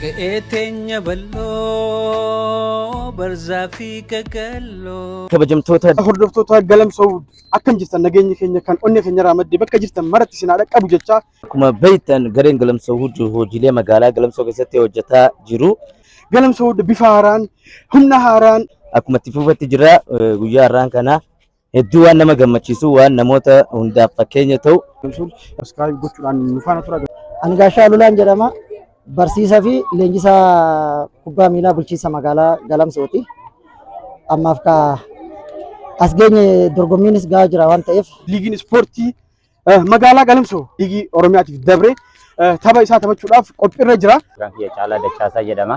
Qe'ee teenya bal'oo barzaa fi qaqalloo. kabajamtoota hordoftoota galamsoo akkam jirtan nageenyi keenya kan onnee keenya irraa madde bakka jirtan maratti isin haa dhaqqabu jechaa akkuma beektan gareen galamsoo hundi hojiilee magaalaa galamsoo keessatti hojjetaa jiru galamsoo bifa haaraan humna haaraan akkuma itti fufatti jira eh, guyyaa har'aan kana Hedduu waan nama gammachiisu waan namoota hundaaf fakkeenya ta'u. Subscribe gochuudhaan nu faana tura. Ani Gaashaa Lulaan jedhama. Barsiisaa fi leenjisaa kubbaa miilaa bulchiinsa magaalaa Galamsooti. Ammaaf ka as geenye dorgommiinis gahaa jira waan ta'eef Liigiin ispoortii Eh, Magaalaa Galamsoo dhiigii Oromiyaatiif dabree eh, tapha isaa taphachuudhaaf qophiirra jira. Maqaan kiyya Caalaa Dachaasaa jedhama.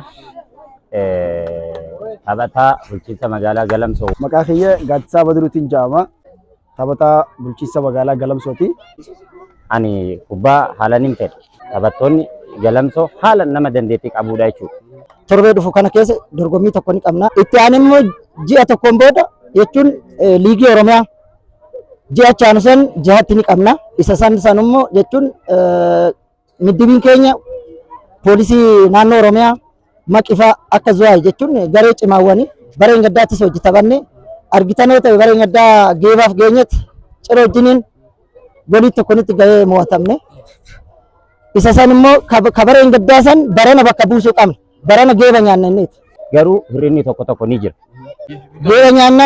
Eh, Taphataa bulchiinsa magaalaa Galamsoo. Maqaa kiyya Gaaddisaa Badiruutiin jedhama. Taphataa bulchiinsa magaalaa Galamsooti. Ani kubbaa haalan hin fedhu. Taphattoonni Galamsoo haala nama dandeettii qabuudha jechuudha. torbee dhufu kana keessa dorgommii tokko ni qabna. Itti aanee immoo ji'a tokkoon booda jechuun eh, liigii Oromiyaa ji'a chaanu san jihatti ni qabna isa san san immoo jechuun middibiin keenya poolisii naannoo oromiyaa maqifaa akka zuwaay jechuun garee cimaawwanii bareen gaddaattis hojii taphanne argitan yoo ta'e bareen gaddaa geebaaf geenyetti cira wajjiniin golii tokkonitti gahee mo'atamne isa san immoo kabareen gaddaa san barana bakka buusuu qabna Barana geeba nyaanna inniiti. Garuu hir'inni tokko tokko ni jira. Geeba nyaanna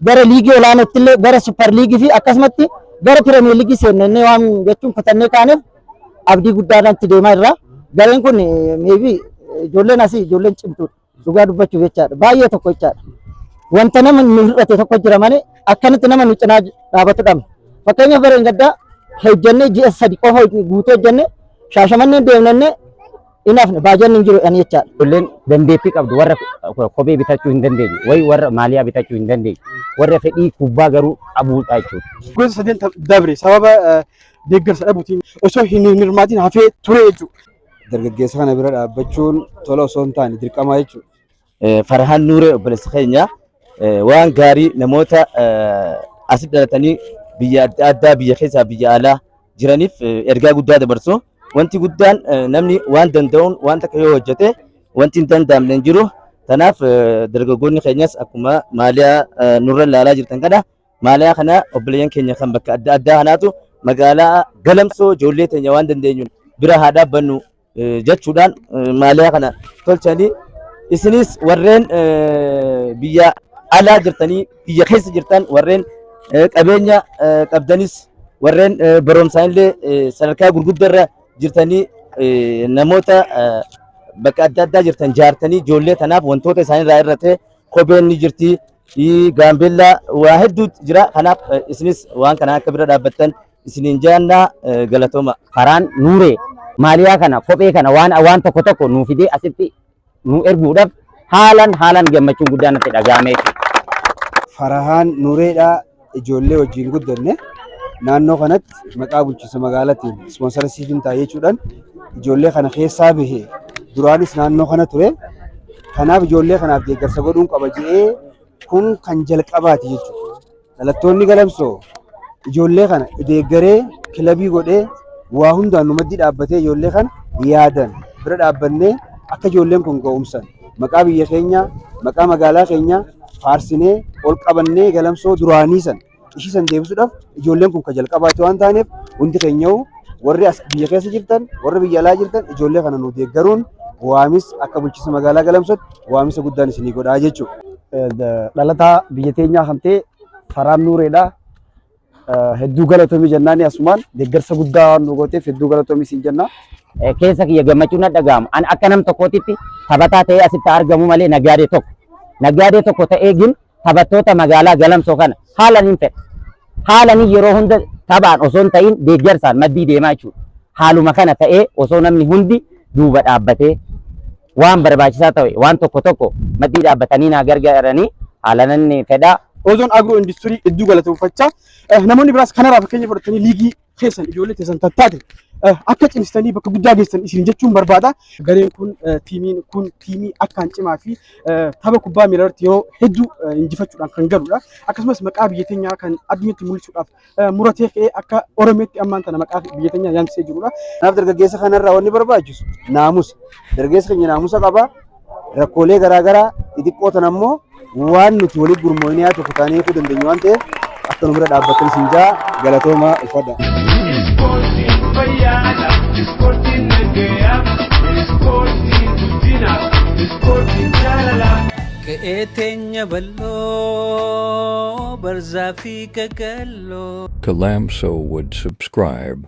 gara liigii olaanootti illee gara supper liigii fi akkasumatti gara pireemiyer liigii seenna inni waan jechuun kutannee kaaneef abdii guddaadhaan itti deemaa irraa gareen kun meebii ijoolleen asii ijoolleen cimtuudha dhugaa dubbachuuf jechaadha baay'ee tokko jechaadha wanta nama nu hir'ate tokko jira malee akkanatti nama nu cinaa dhaabatu dhabne fakkeenyaaf bara hin gaddaa hojjannee ji'a sadi qofa guutuu hojjannee shaashamannee deemnannee hin hafne baajanni hin jiru jedhanii jechaadha. Ijoolleen dandeettii qabdu warra kophee bitachuu hin dandeenye wayi warra maaliyaa bitachuu hin dandeenye warra fedhii kubbaa garuu qabuudha jechuudha. Gosa sadeen dabre sababa eh, deeggarsa dhabuutiin osoo hin hirmaatiin hafee ture jechuudha. dargaggeessa kana bira dhaabbachuun tola osoo hin taane dirqamaa jechuudha. Farhaan Nuuree obboleessa keenya waan gaarii namoota asi dhalatanii biyya adda addaa biyya keessaa biyya alaa jiraniif ergaa guddaa dabarsu. Wanti guddaan namni waan danda'uun waan takka yoo hojjete wanti hin danda'amne hin jiru. Kanaaf dargaggoonni keenyas akkuma maaliyaa nurra ilaalaa jirtan kana maaliyaa kana obboleeyyan keenya kan bakka adda addaa kanaatu magaalaa galamsoo ijoollee teenya waan dandeenyuun bira haa dhaabbannu. jechuudhaan maaliyaa kana tolchanii isinis warreen biyya alaa jirtanii biyya keessa jirtan warreen qabeenya qabdanis warreen barumsaan illee sadarkaa gurguddarra jirtanii namoota bakka adda addaa jirtan jaartanii ijoollee tanaaf wantoota isaanirraa irratti kopheen ni jirti gaambeellaa waa hedduu jira kanaaf isinis waan kana akka bira dhaabbattan isiniin jaanna galatoma. Faraan Nuuree maaliyaa kana kophee kana waan waan tokko tokko nuu fidee asitti nu erguudhaaf haalan haalan gammachuun guddaa natti dhaga'ame. Farahaan Nuureedhaa ijoollee wajjin guddanne naannoo kanatti maqaa bulchiinsa magaalatiin ispoonsara siifiin taa'ee jechuudhaan ijoollee kana keessaa bahe duraanis naannoo kana ture. Kanaaf ijoollee kanaaf deeggarsa godhuun qaba jedhee kun kan jalqabaati jechuudha. Dhalattoonni Galamsoo ijoollee kana deeggaree kilabii godhee waa hundaan nu maddii dhaabbatee ijoollee kana yaadan bira dhaabbannee akka ijoolleen kun ga'umsan maqaa biyya keenyaa maqaa magaalaa keenyaa faarsinee ol qabannee galamsoo duraanii san ishii san deebisuudhaaf ijoolleen kun ka jalqabaatti waan taaneef hundi keenya'u warri as biyya keessa jirtan warri biyya alaa jirtan ijoollee kana nu deeggaruun waamis akka bulchiinsa magaalaa galamsootti waamisa guddaan isinii godhaa jechuudha. Dhalataa biyya teenyaa kan ta'e Faraan Nuureedha. Hedduu galatoomii jennaani asumaan deeggarsa guddaa waan nu gooteef hedduu galatoomii siin jenna. Keessa kiyya gammachuu na dhaga'amu. Ani akka nam tokkootitti taphataa ta'ee asitti argamu malee nagaadee tokko. Nagaadee tokko ta'ee gin taphattoota magaalaa galamsoo kana haalan hin fedha. Haalan yeroo hunda taphaan osoo hin ta'in deeggarsaan maddii deemaa jechuudha. Haaluma kana ta'ee osoo namni hundi duuba dhaabbatee Waan barbaachisaa ta'e waan tokko tokko maddii dhaabbatanii naa gargaaranii haalanan fedha. Ozoon Agro Industirii hedduu galateeffachaa eh, namoonni biraas kanarraa fakkeenya fudhatanii liigii keessan ijoollee keessan tattaate eh, akka cimsitanii bakka guddaa geessan isin jechuun barbaada. Gareen kun eh, tiimiin kun tiimii akkaan cimaa fi eh, tapha kubbaa miilaa irratti yeroo hedduu eh, injifachuudhaan kan galudha. Akkasumas maqaa biyya teenyaa kan addunyaatti mul'isuudhaaf muratee ka'ee akka Oromeetti ammaan tana maqaa biyya keenya yaamsisee jirudha. Kanaaf dargaggeessa kanarraa wanni barbaachisu naamusa. Dargaggeessa keenya naamusa qaba. Rakkoolee garaagaraa xixiqqoo tan ammoo waan nuti waliin gurmoonee haa tokko taanee eeguu dandeenyu waan ta'eef akka nu bira dhaabbattan isin jaa galatoomaa uffadha. Ispoortiin fayyaadha. Ispoortiin nagaya. Ispoortiin guddina. Ispoortiin jaalala. Qe'ee teenya bal'oo barzaa fi Gagallo. Kalamso would subscribe.